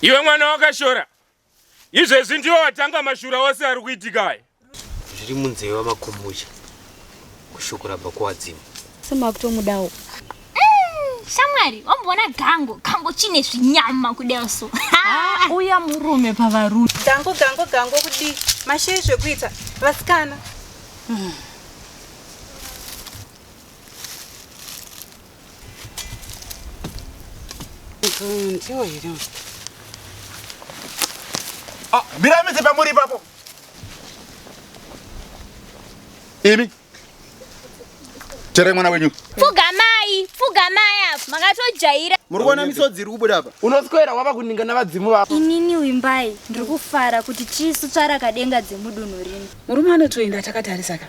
Iwe mwana wakashora izvezvi ndiwo watanga mashura ose ari kuitika aya zviri munzeve wamakumbucha kushoko rabva kuwadzimu semakutomudawo shamwari wamboona gango gango chine zvinyama kudai so ah, uya murume pavarume gango gango gango kudii mashei zvekuita vasikana hmm. ndiwo here ah, mira midzi pamuri ipapo imi tere mwana wenyu pfugamai pfugamai apo makatojaira muri kuona misodzi iri kubuda apa unoswera wava kuninga navadzimu vako inini wimbai ndiri kufara kuti chisu tsvarakadenga dzemudunhu rino murume anotoenda takatarisaka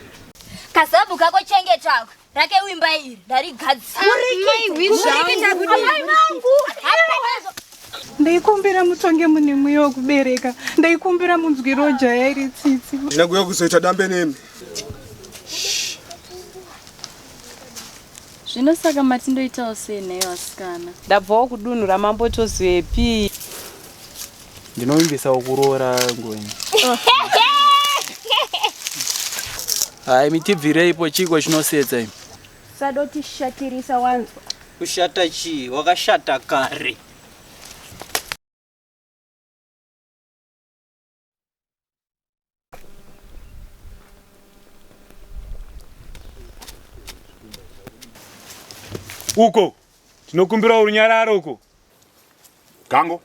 kazabu kako chengetako rake wimba iri ndarigadzirandikumbira mutonge mune mweya wekubereka ndaikumbira munzwiro jaya iri tsitsi ndakuya kuzoita dambe nemi zvino saka mati ndoitawo sei nhayo asikana ndabvawo kudunhu ramambo tozivepi Ndinovimbisa ukuroora ngoni. Hai mitibvirei ipo chiko chinosetsa imi. Sadoti shatirisa wanzwa. Kushata chii? Wakashata kare. uko tinokumbira urunyararo uko gango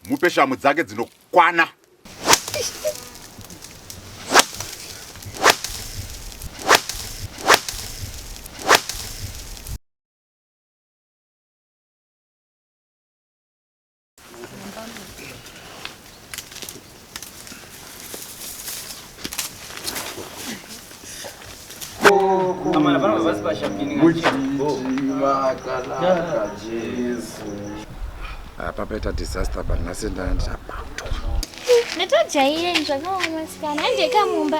mupe shamu dzake dzinokwana apa paita disaster apa nhasi ndandabatwa ndatojaire zvakaoma sikana handiekamumba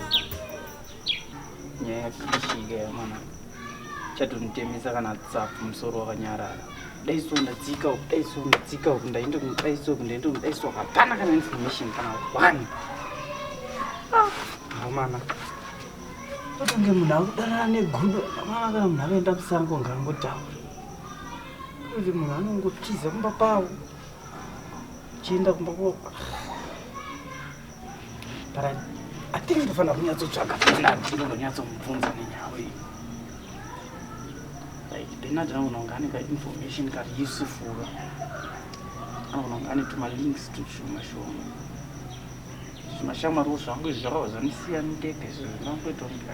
nyaya yakashika yamwana chatonitemesa kana tsapu musoro wakanyarara daiso ndadzika uku daiso ndadzika uku ndainde kuno daiso uku ndainde kuno daiso hapana kana information kana one ah, hamana totange munhu akudanana negudo amana kana munhu akaenda kusango ngaangotaura kuti munhu anongotiza kumba kwavo chienda kumba kwavo ndinofanira kunyatsotsvaga benard ndinonyatsomubvunza nenyaya iyi like benard anogona kunge ane kainformation kari yusufuro anogona kunge ane tumalinks tushoma shoma zvimashamwariwo zvangu izvi zvakava zvandisiya ndega izvo zvinangoita kunge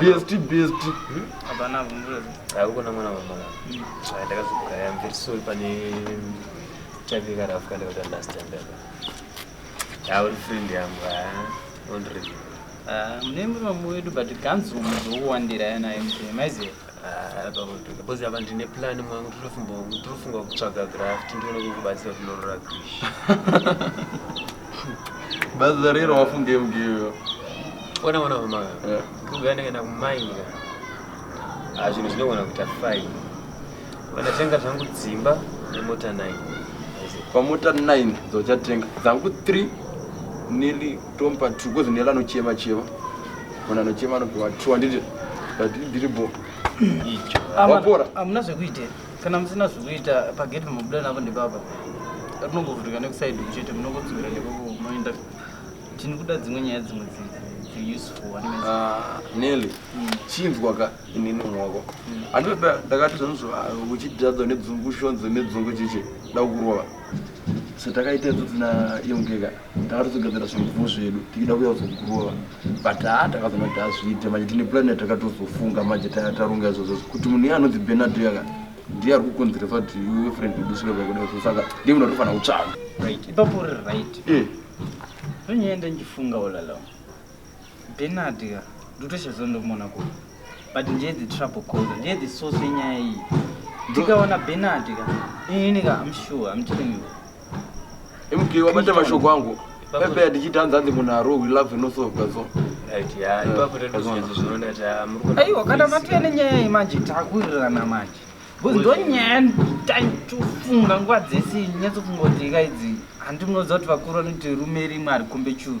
bst bst akukona mwana wamwana ndakazogaya am very sorry pane chavika rafu kanda kuti understand apa uri friend yangu ondreview mune mumwe wedu but ganzi muzokuwandira yanaye maiziva because apa ndine plan mwangu tinofunga kutsvaga graft ndione kukubatsira kunorora krish baza rero wafunge mgiyo ona ona mama ndikugaa ndakaenda kumainga ah, zvinhu zvinogona kuita fine vanatenga zvangu dzimba nemota 9 pamota 9 dzochatenga dzangu 3 nili tomupa two kozi nela anochema chema munhu anochema anopiwa two handiti but ndiri bo wapora hamuna zvekuita kana musina zvekuita pageti mabuda navo ndipapa rinongovhurika nekusaidi kuchete munongodzokera nekoko moenda tini kuda dzimwe nyaya dzimwe ah, neli hmm. chinzwa ka inini mwako hmm. andioda ndakati zvanizvo ah, uchidadza nedzungu shonzo nedzungu chichi ndakukurova so takaita idzo dzina yongeka Takatozogadzira zvimvuvo zvedu tichida kuya kuzokurova but haa takazoona kuti hazviite manje tine plan yatakazofunga manje taronga izvozvo kuti munhu iye anonzi benardo yaka ndiye ari kukonzeresa kuti iwe friend udusire kwakuda izvo saka ndiye munhu atofanira kutsvaga right ipapo uri right eh. ndonyaenda ndichifunga olalo benard ka ndotoshazonomona ku but ndiye the trouble cause ndiye the source yenyaya iyi ndikaona benard ka inini ka am sure am telling you mk wabata mashoko angu pepe ndichiti hanzi hanzi munhu arohwi love inosolvwa so aiwa kana matouya nenyaya iyi manje takurirana manje bcause ndonyaya nditofunga nguva dzese nyatsofunga kuti ika idzi handi munoziva kuti vakuru vanoti rume rimwe harikombe churu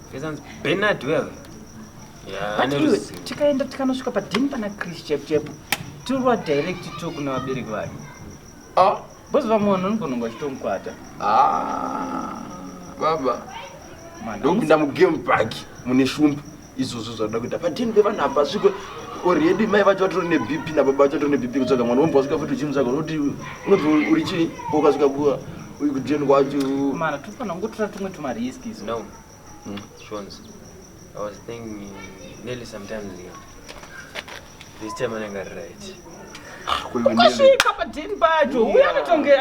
tikaenda tikanosvika padhini pana chris chepchepo tirwa direct to kuna vabereki vake ah. bcause vamwana unogona achitomukwata ah, baba ndokupinda mugame park mune shumba izvozvo zvakuda kuita padhini pevana hapasviko already mai vacho vatori nebp nababa vacho vatori nebp kutsvaga mwana wombwa svika futi uchimutsvaga unoti unoti uri chii ukasvika kuwa Uyu kujeni kwacho. Mara tofana ngotora tumwe tuma risk izo. No. Mm. Shons. I was thinking nearly sometimes here. This time I got right. Ukasvika padhini pacho uye anotonge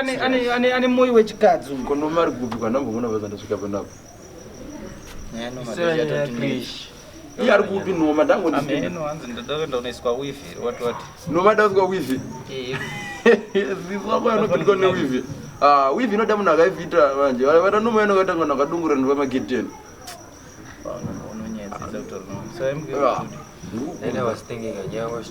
ane moyo wechikadzi uyu. Kono mari kupi kana mbomona vazandasvika panapo. iye ari kupi noma ndangondinomadakuiswa wifi ziswakoyanopindwa newifi ah, wifi inoda munhu akaifita manje vana noma yanokaita kana kadungura ndova magedeni Then I was thinking, I was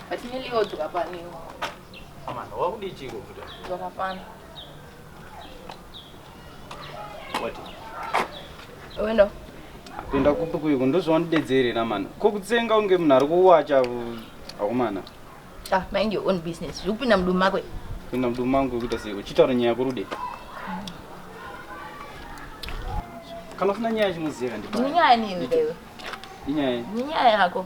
But me Leo tukapaniwa. Amana wakudii chiko futa? Tukapana. What? Wena. Kuenda kupi kuiko ndozvaundidedzere na mano. Ko kutsenga unge munhu ari kuwacha akomana. Ah, mind your own business. Zvokupinda mudumu mako. Pinda mudumu mangu kuita seiko. Chitaura nyaya kurude. Kana ufuna nyaya chimuziva ndipa. Nyaya nini iwe? Nyaya. Nyaya yako.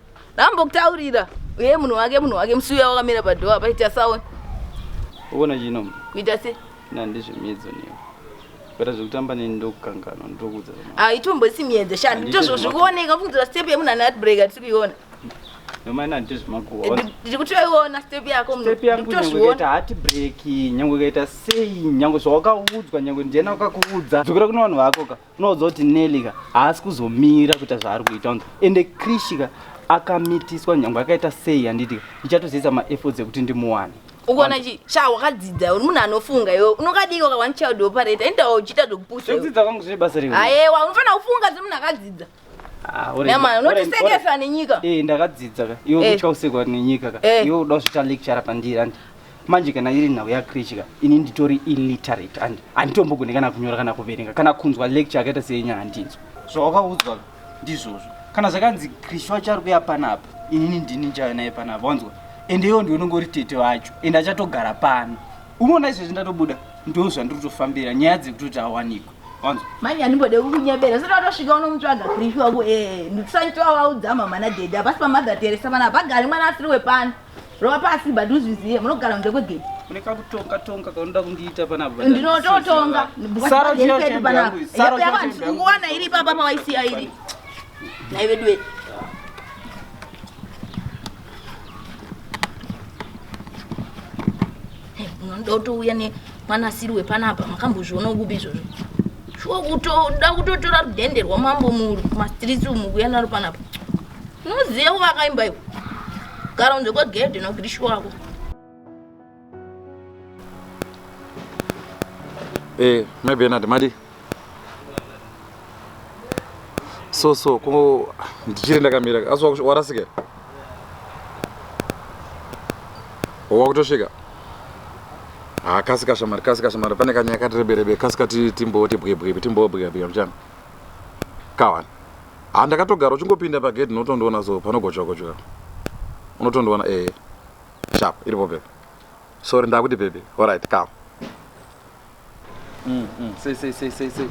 ndambokutaurira uye munhu wake munhu wake musi uya wakamira padhoa paita saona uona chino kuita se nandizve miedzo niyo kuita zvekutamba neni ndokukanganwa ndokuudza haitomboisi miedzo shani nditozvo zvikuoneka kufunzira step yemunhu ane heartbreak atisi kuiona ndikutoiona step yako mnhukutoiona hati breki nyange ukaita sei nyange zvawakaudzwa nyange ndiena wakakuudza dzokera kune vanhu vako ka unoudza kuti neli ka haasi kuzomira kuita zvaari kuita unzi ende krishi ka akamitiswa nyange akaita sei handiti ka ndichatoziisa maefforts ekuti ndimuwane ukuona chi sha wakadzidza uri munhu anofunga iwe unokadii waka one child operate endawo uchiita zvekupuswa iwe. zvekudzidza kwangu zvine basa riwe ayewa unofanira kufunga semunhu akadzidza Ah, ore- Nyama, ore- unotisekesa nenyika. Eh, ndakadzidza ka iwe Eh. kutya usekwa nenyika ka Eh. iwe uda kuzvita lecture pandiri andi manje kana iri nhau yakrichi ka ini nditori illiterate andi handitombogone kana kunyora kana kuverenga kana kunzwa lecture akaita seyenya handinzwa zvawakaudzwa ka ndizvozvo kana zvakanzi krishi wacho ari kuya panapa inini ndini ndichauya naye panapa wanzwa ende iwo ndiwe unongori tete wacho ende achatogara pano unoona izvezvi ndatobuda ndo zvandiri kutofambira nyaya dzekutoti awanikwe wanzwa manje andimbode kukunyebera sati watosvika unomutsvaga krifi wako ee ndikusaniti wawaudza mama nadhedi hapasi pamother teresa pana hapagari mwana asiri wepano rova pasi but uzvizive munogara kunze kwegedi une kakutonga tonga kaunoda kundiita panapa ndinototonga Sara uchida kuti pedu panapa yangu- Sara uchida kuti yangu- kukuona iri papa pawaisiya iri naiveduwe unoda kutouya nemwanasiri wepanapa makambozviona kupi izvozvo shuwa kutoda kutotora rudhende rwamambo mumastritsi umu kuya naro panapa unoziva kuvakaimba iwo gara unze kwegedhe nokuti shuwako Eh, mai Bernard madi. So so ko ndichiri ndakamira. Asi warasika. Wakutosvika. Ah, kasika shamari, kasika shamari. Pane kanyaya kati rebe rebe, kasika timbo tibwe bwe, timbo bwe bwe mchana. Kawan. Ah, ndakatogara uchingopinda pa gate unotondoona so panogochwa gochwa. Unotondoona eh. sharp iripo baby sorry ndakuti baby all right come mm mm say say say say say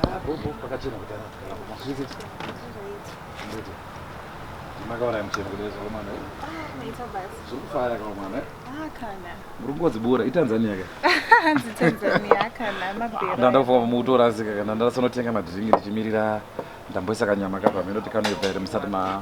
ah bobo pakachena kutana zvese ndete makaona mcheno kudezo mwana ah ita basi zvokufaya kwa mwana ah kana murungozi bura itanzania ka hanzi tanzania kana mabhera ndanda kufunga mutora asika kana ndanda sonotenga madrink ndichimirira ndamboisa kanyama kapa meno tikanoibva here musati ma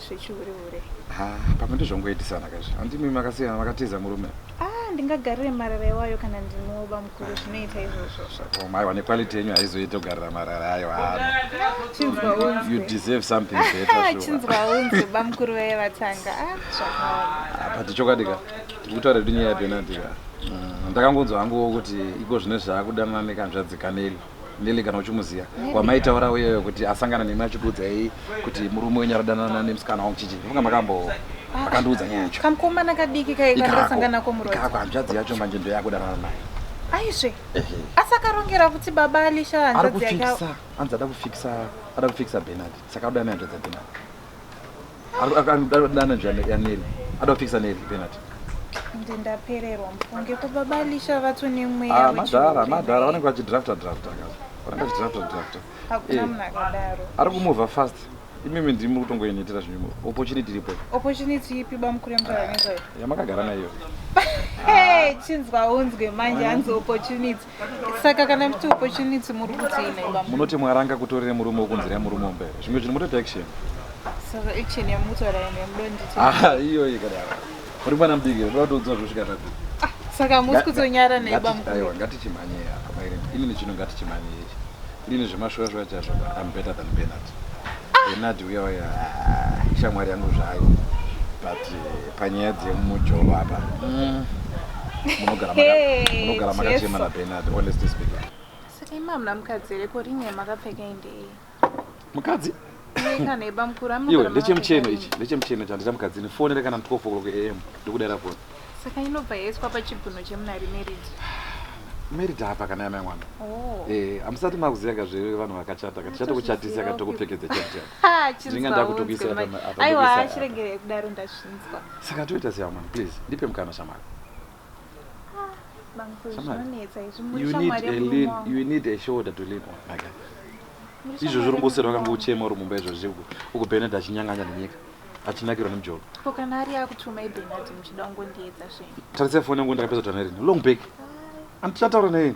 zvechihure hure ha pamwe ndizvongoitisana kazvi handimi makasiyana makatiza murume ah ndingagarire marara iwayo kana ndinoba mukuru zvinoita izvozvo zvakoma aiwa nequality yenyu haizoite kugarira marara ayo hano chinzwa unzwe you deserve something better sure. chinzwa unzwe bamukuru vaye vatanga ah zvakaoma apa tichokwadi ka tikutaura kuti nyaya yapenati ka Mm, ndakangonzwa hangu kuti iko zvino zvaakudanana nekanzvadzi kaneli Lily kana uchimuziva wamaitaura uyeyo kuti asangana nemi achikuudza yei kuti murume wenyu aradanana nemusikana wangu chichi vanga makambo ah, akandiudza nyaya yacho kamkomana kadiki kaikaasangana komuroikako hanzvadzi yacho manje ndoyakudanana naye aizve asi akarongera kuti baba alisha hanzvadzi yake anzi ada kufikisa ada kufikisa benard saka udane hanzvadzi yabenard Dana njani ya Neri. Ada kufikisa Neri penalty. Ndi ndapererwa mfunge ko baba Lisha vatso ne mweya wechi. Ah madhara madhara vanenge vachi drafta drafta kaza. Vanenge vachi drafta drafta. Hakuna eh, munhu akadaro. Ari kumova fast. Imimi ndimi muri kutongoinitira zvinhu. Opportunity iripo. Opportunity ipi bamukure mutara ah, nezvayo. Yamakagara nayo. Hey, chinzwa unzwe manje hanzi opportunity. saka kana kuti opportunity muri kuti inaiba munoti mwaranga kutorere murume wokunzira yemurume wombere zvimwe zvinhu mutoita action saka action yamutaura ino yamudo nditi ah, iyoyi kadaro muri mwana mudiki ndoda kutoudzwa zvosvika taku ah, saka musi kutonyara naiba mkaiwa ngatichimhanyei apa maire inini chino ngatichimhanyei Ini zvemashoya shoya chazvo I'm better than Bernard. Ah. Bernard uya uya shamwari yangu zvayo but eh, panyaya dzemujolo apa mm. munogara makachema na Bernard honestly speaking. Saka imamna mukadzi here ko rinye makapfeka indei? Mukadzi? iwe ndechemucheno ichi ndechemucheno chandi chamukadzini foni rekana 12 o'clock am ndikudaira foni saka inobva yaiswa pachibvuno chemunari merid merid apa kana yana mwana oh. eh, hamusati makuziva ka zve vanhu vakachata ka tichatokuchatisa ka tokupfekedza chatichadinga ndakutokuisaaaiwa chiregerei kudaro ndazvinzwa saka toita seya mwana please ndipe mukana shamari izvo zviri ngosera vakanga uchema uri mumba izvozvi uku benard achinyanganya nenyika achinakirwa nemjolo tarisai foni yangu ndakapedza kutaura nerini long back andichataura nerini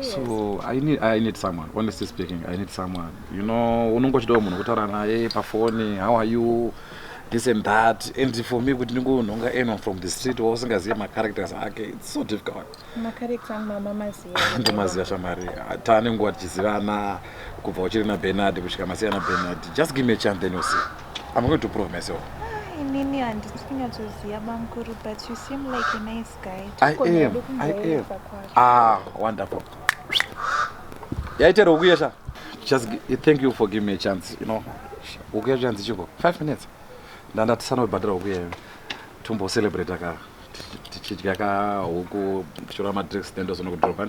so I need, I need someone honestly speaking I need someone you know unongochidawo munhu kutaura naye pafoni how are you this and that and for me kuti ndingonhonga anyone from the street wausingazive macharacters ake its so difficult ndomaziva shamari tane nguva tichizivana kubva uchiri nabenard kusvika masiya nabenard just give me a chance then you see i'm going to prove myself ah, inini handisi kunyatsoziva bamkuru but you seem like a nice I am, I am. Ah, wonderful. Yaitero ukuya sha. Just thank you for giving me a chance, you know. Ukuya chance chiko. 5 minutes. Ndanda tisano badira ukuya. Tumbo celebrate aka. Tichidya ka huku, kuchora ma drinks nendo zona kudropa.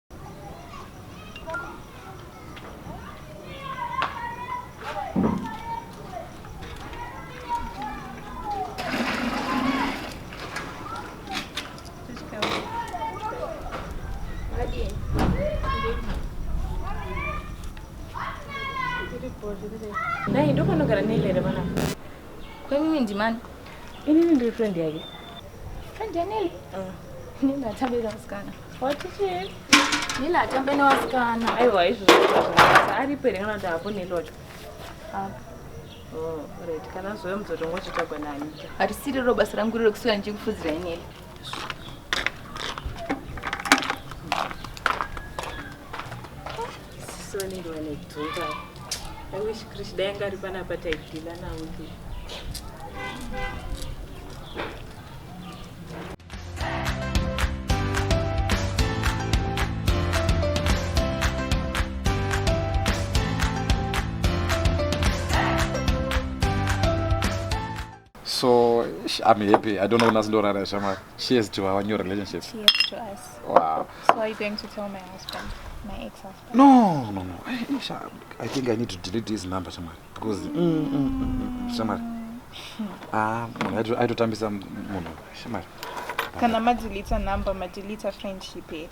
Dai ndopanogara Nelly re vana. Kwemimi ndimani? Inini ndiri friend yake. Friend ya Nelly? Mm. Nini atabira musikana. Watichii? Nila atambe newasikana. Aiwa izvo zvakaita aripo here kana kuti hapo Nilocho? Hapo. Oh, right. Kana zvoyo muzotongo chitagwa nani. Harisiri ro basa rangu riro kuswera ndichikufudzira inini. Soniri wane dzoka. I wish Krishna yanga ari panapa taidhila nawo. so i'm happy i don't know unasi ndorara shamwari cheers to our new relationship cheers to us wow so are you going to tell my husband my ex husband no no no i, I think i need to delete his number shamwari Because mm, mm, mm, shamari. Ah, munhu aitotambisa munhu shamari. Kana madeleter number, madeleter friendship here?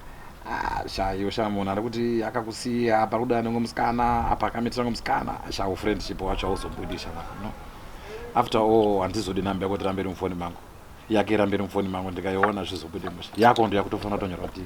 Ah, shaiyo sha munhu ari kuti akakusiya apa kuda anenge musikana apa akamitira ngo musikana sha ufriendship wacho hauzobudi shamari no after all handizodi number yako tirambe iri mufoni mangu yake irambe iri mufoni mangu ndikaiona zvizobude musha yako ndo yakutofanira kutonyorwa tii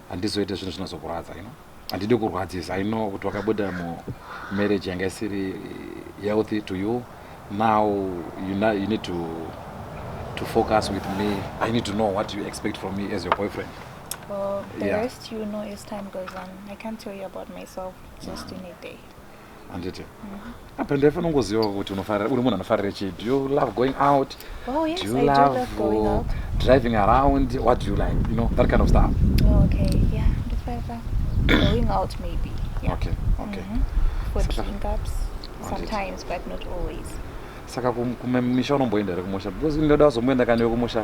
handizoite zvinhu zvinozokurwadza you know handidi kurwadzisa i know kuti wakabuda mumarriage yanga isiri healthy to you now you, know, you need to, to focus with me i need to know what you expect from me as your boyfriend well, the yeah. rest you know as time goes on i can't tell you about myself just in a day handiti apa ndaifanira kungoziva kuti unofarira uri munhu anofarira chii do you love going out oh, yes, do you I love, do love going out. driving around what do you like you know that kind of stuff oh, okay yeah ndifarira going out maybe yeah. okay okay mm -hmm. for drink ups sometimes but not always saka kumisha unomboenda here kumusha because ndoda kuzomboenda kani wekumusha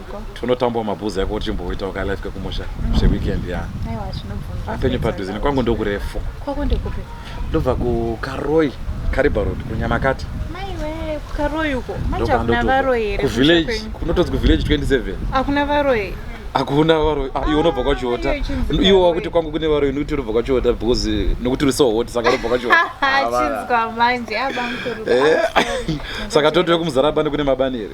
Tunotambwa mabhuzi yako uchimboitawo ka life kekumusha zve weekend ya. Aiwa zvinobvunza. Apenyu padhuze nekwangu ndokurefu. Kwako ndekupi? Ndobva ku Karoi, Kariba Road kunyamakati. Maiwe kukaroi uko. Manje kuna varoi here? Ku village kunotonzi ku village 27. Akuna varoi. Akuna varoi. Ah, iwe unobva kwa Chiota. Iwe wakuti kwangu kune varoi nokuti unobva kwa Chiota because nokuti uri so hot saka unobva kwa Chiota. Chinzwa manje abamkuru. Eh. Saka totwe kumuzarabani kune mabani here?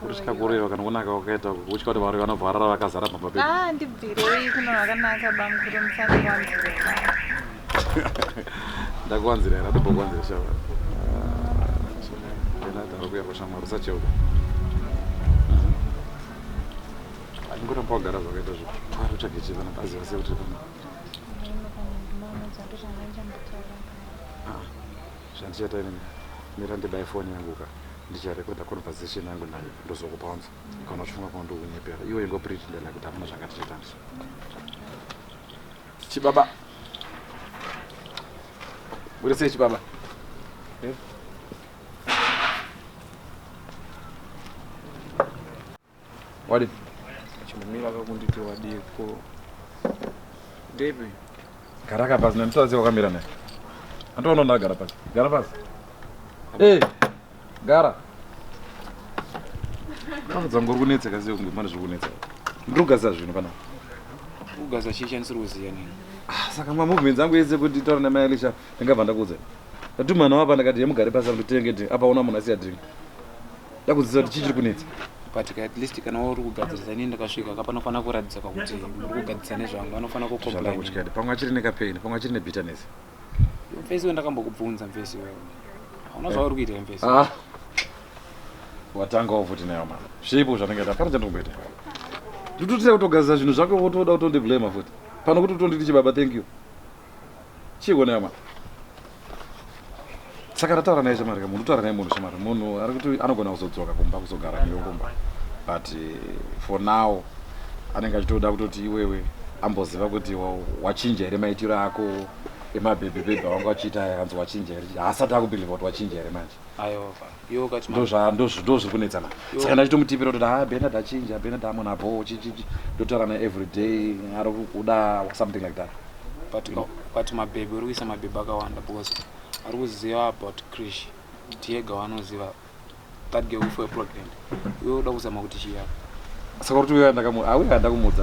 kutya kureva kana kunaka kwakaita kutya kuti varoi vanobva varara vakazara pamba pedu ah, ndibvirei kuno vakanaka bamukuru musandiwanzirera ndakuwanzira here atombokuwanzira shava ndinadaro ah, kuya kwashamwari usacheuka andingoramba wagara zvakaita zvo ari utsvage chivana paziva sekuti pano Zvandichaita ini mira ndibaye phone yangu ka ndicharekoda conversation yangu nayo ndozokupa unza kana uchifunga kuti ndikunyepera iwe ingo pretendela kuti hamuna zvanga tichaitandisa chibaba uri sei chibaba eh? Wadi. Chimumira kakunditi wadii ko. Depi. Gara ka pasi nandisati wakamira naye. Antoona ndagara pasi. Gara pasi. Eh. Gara. Ndakudza ngori kunetsa kasi kunge mane zvokunetsa. Ndiri kugasa zvinhu kana. Kugasa chii chanisiri kuziya nini. Ah, saka ma movements angu yese kuti taura na Mailisha ndingabva ndakuudza. Ndatumana wapa ndakati yemugare pasi nditenge apa una munhu asiya drink. ndakuziva kuti chii chiri kunetsa but at least kana uri kugadzirisa ini ndakasvika ka panofanira kuratidza ka kuti uri kugadzirisa nezvangu vanofanira kucomplainandakutyadi pamwe achiri nekapain pamwe achiri nebitterness mfesi we ndakambokubvunza mfesi wewe hauna zvauri kuitira mfesi ah. watanga wafuti nayo mama zvipo zvanenge ta pano chandikumbeta nditotira kutogadzirisa zvinhu zvako votoda kutondiblema futi pano kuti utonditi chibaba thank you chiiko nema saka tataura naye shamari ka munhu taura naye munhu shamari munhu ari kuti anogona kuzodzoka kumba kuzogara newe kumba but eh, for now anenge achitoda kutoti iwewe amboziva kuti wa- wachinja here maitiro ako emabhebhebhebhe awanga achiita aya akanzi wachinja here haasati akubhilivha kuti wachinja here manje aiwa baba ndozviri kunetsana saka ndachitomutipira kuti ha benard achinja benard amona bho chichichi ndotaura na every day ari kukuda something like that but mabhebhi uri kuisa mabhebhi akawanda because ari kuziva about krish tiyega wanoziva that ge ufe pregnant iwe uda kuzama kuti chiyaka Saka kuti uyo andaka mu ah uyo andaka mudza.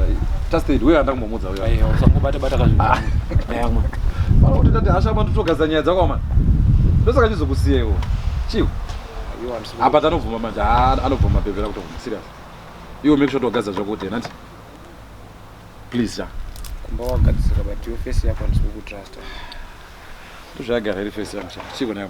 Just said uyo andaka mudza uyo. Ayo usangobata bata kazvi. Ayamwe. Bana kuti ndati asha bantu togaza nyaya dzako mama. Ndosaka chizokusiya iwo. Chiwo. Apa tanobvuma manje ah, anobvuma pevera kutobvuma serious. Iwo make sure togaza zvako kuti nati. Please ya. Kumba wagadzira but your face yako ndisikukutrust. Tuzvagara iri face yangu. Chiwo nayo.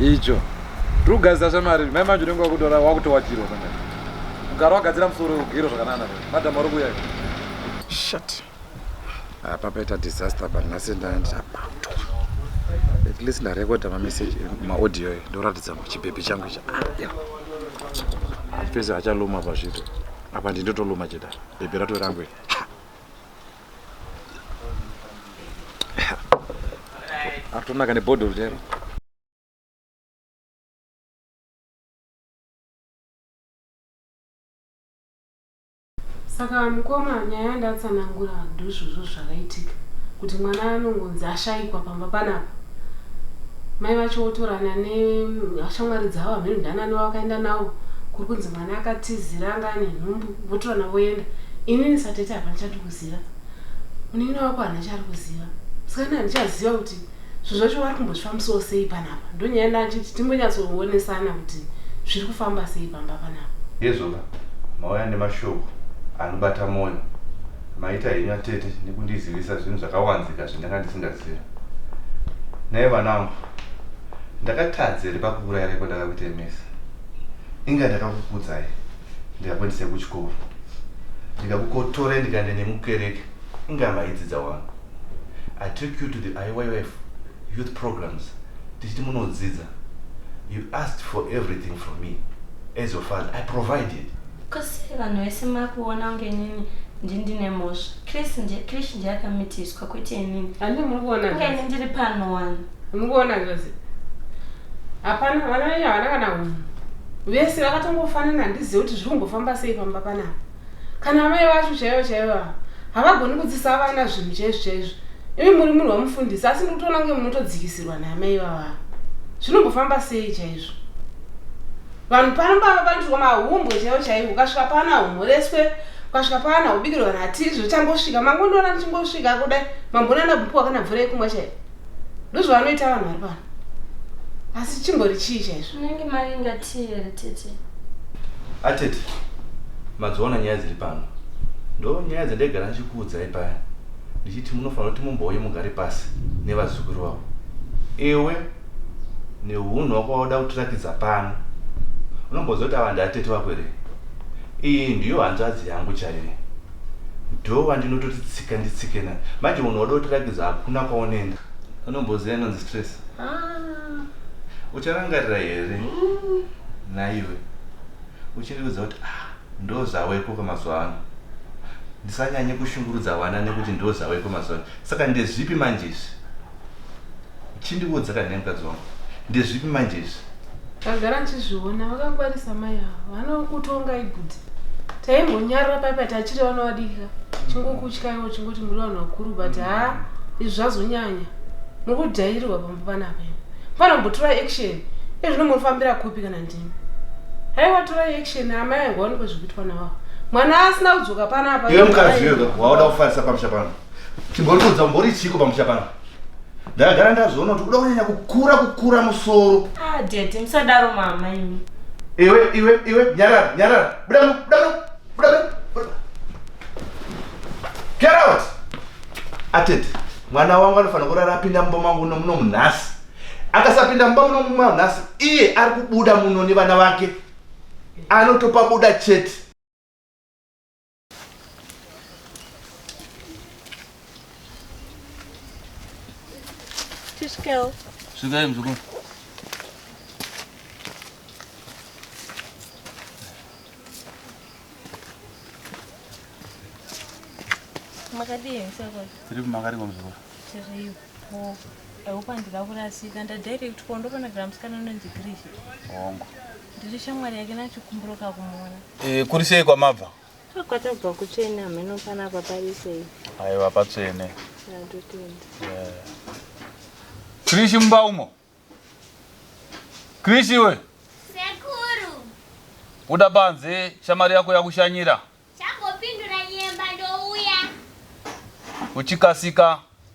icho tiri kugadzira shamari mai manje unenge wakutora wakutowatirwa kana ugara wagadzira musoro ugero zvakanana madam ari kuuya shat apa paita disaster apa nhasi ndabatwa at least ndarekoda mameseji maaudio e ndoratidza chibhebhi changu icha ah, pese achaluma pazvito apa ndindotoluma cheda bhebhi rato rangu Artonaka nebhodhoro chero. saka mukoma nyaya yandatsanangura ndozvozvo zvakaitika kuti mwana anongonzi ashaikwa pamba panapa mai vacho votorana neshamwari dzavo hameno ndanani vavakaenda navo kuri kunzi mwana akatizira anga ane nhumbu votorana voenda inini satete hapana chati kuziva munin'ina wako hana chari kuziva sikana handichaziva kuti zvinhu zvacho wari kumbozvifambisawo sei panapa ndonyaya ndachiti timbonyatsoonesana kuti zviri kufamba sei pamba panapa hezvoka mauya nemashoko anobata mwoyo maita henyu atete nekundizivisa zvinhu zvakawanzika zvindanga ndisingaziva naye vanangu ndakatadza here pakuurayira kwandakakutemesa inga ndakakukudzai ndikakuendesai kuchikoro ndikakukotorai ndikaenda nemukereke inga maidzidza wani i took you to the iyf youth programs tichiti munodzidza you asked for everything from me as your father i provided kose vanhu vese makuona kunge inini ndindine mhosva krish ndiye akamitiswa kwete inini andimuri kuona kunge ini ndiri pano wani Mukuona zvose. Hapana vana venyu havana kana hunhu. Vese vakatongofanana handizive kuti zviri kumbofamba sei pamba panapa. Kana amai vacho chaivo chaivo ava havagoni kudzisa vana zvinhu chaizvo chaizvo. Imi muri munhu wamufundisa asi ndiri kutoona kunge munotodzikisirwa naamai vavava. Zvinombofamba sei chaizvo? Vanhu pano pava panoitwa mahumbwe chaivo chaivo ukasvika pana humoreswe ukasvika pana hubikirwa natizvo chambosvika mangondiona ndichingosvika kudai mambonana bhuku wakanabvura yekumwa chaivo ndozvavanoita vanhu vari pano asi chimbori chii chaizvo unenge mavinga tii here tete atete madziona nyaya dziri pano ndo nyaya dzandaigara ndichikuudzai paya ndichiti munofanira kuti mumbouye mugare pasi nevazukuru vavo iwe neunhu wako wauda kutirakidza pano unomboziva kuti ava ndiatete vako here iyi ndiyo hanzvadzi yangu chaiye Ndoo wandinototi tsika nditsike naye. Manje munhu wada kutirakidza hakuna kwaunoenda. Unomboziva inonzi stress? Ah. Ucharangarira here? Mm. Naiwe. Uchindiudza kuti ah ndozaweko kwamazuva ano. Ndisanyanye kushungurudza vana nekuti ndozaweko mazuva ano. Saka ndezvipi manje izvi? chindiudza kana nemukadzi wangu ndezvipi manje izvi ndagara ndichizviona vakangwarisa mai ava vanokutonga ibhudhi taimbonyarira pai pati achiri vana vadiki ka chingokutyaiwo chingoti muri vanhu vakuru but ha izvi zvazonyanya muri kudhairirwa pamba panapa imi panombotora action ezvino munofambira kupi kana ndimi haiwa tora action amai angu vaonekwe zvekuitwa navavo mwana asina kudzoka panapa iwe mukadzi iwe waoda kufarisa pamusha pano Chimboriudza umbori chiko pamusha pano. Ndagara ndazviona kuti kuda kunyanya kukura kukura musoro. Ah, daddy musadaro mama imi. Iwe iwe iwe nyarara nyarara. Buda mu buda mu buda mu. Get out. Atete, mwana wangu anofanira kurara apinda mumba mangu nomuno munhasi. Akasapinda mumba muno muno munhasi, iye ari kubuda muno nevana vake. Anotopa buda chete. Tishkel. Svikai mzukuru. Makadii msakwa? Tiri kumakariko mzukuru. Tiri po. Eupa ndira kurasika ndadaire kuti kondo pana gramusikana unonzi Grish. Hongo. Ndiri shamwari yake nachikumburuka kumuona. Eh, kuri sei kwamabva? Kwatabva kutsvene hameno pana papari sei. Aiwa patsvene. Ndotenda. Yeah. Krishi mumba umo. Krishi we. Sekuru. Buda panze shamwari yako yakushanyira. Changopindura nyemba ndouya. Uchikasika.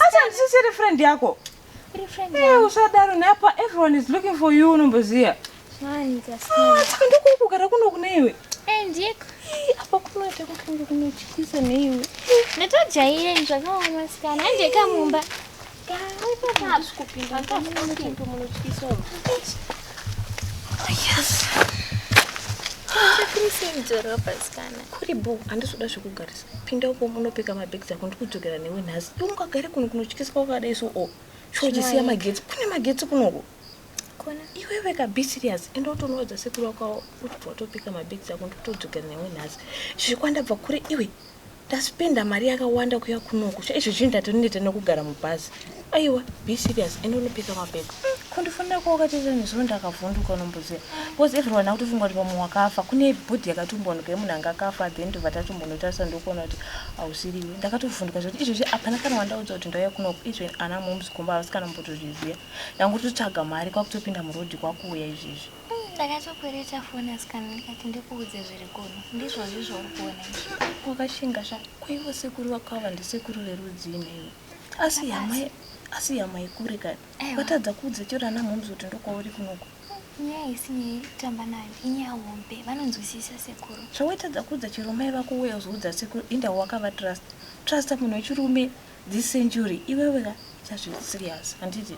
asi handisisiri friend yako eh, usadaro neapa everyone is looking for you unomboziva ah, saka ndokukugara kuno kune iwe eh, ndiko apa kunoita kukange kunotyisa neiwe ndatojaire zvakaoma masikana hande kamumba kuri bo handizoda zvekugarisa Pinda uko munopika mabags ako ndikudzokera newe nhasi. Iwe ungagare kuno kunotyiswa wakadai so o. Sho uchisiya magetsi. Kune magetsi kunoko. Kona. Iwe weka be serious. Enda utonoudza sekuru wako uchibva watopika mabags ako ndikutodzokera newe nhasi. Zvikwanda bva kure iwe. Ndaspenda mari yakawanda kuya kunoko. Sho izvi zvinhu ndatoneta nekugara mubhazi. aiwa be serious ende unopika mapepa kundifonera kwawakateta nezuro ndakavhunduka unomboziva bcause everyone akutofunga kuti pamwe wakafa kune bhodhi yakatumbonoka yemunhu anga akafa then ndobva tatumbonotarisa ndokuona kuti hausiriwe ndakatovhunduka zvekuti izvezvi hapana kana wandaudza kuti ndauya kunoku even ana moms kumba havasi kana mbotozviziva ndangototsvaga mari kwakutopinda murodhi kwakuuya izvezvi ndakatokwereta foni asikana ndikati ndikuudze zviri kuno ndizvozvi zvauri kuona izvi wakashinga zva kwaivo sekuru vakava ndisekuru verudzii naiwe asi yamai asi yamai kure kani vatadza kuudza chero ana mhoms kuti ndokwauri kunoko nyaya isinyaya kutamba nayo inyaya hombe vanonzwisisa sekuru zvawaitadza kuudza chero mai vako uye uzoudza sekuru inda wakava trust trusta munhu wechirume this century iwewe ka chazviri serious handiti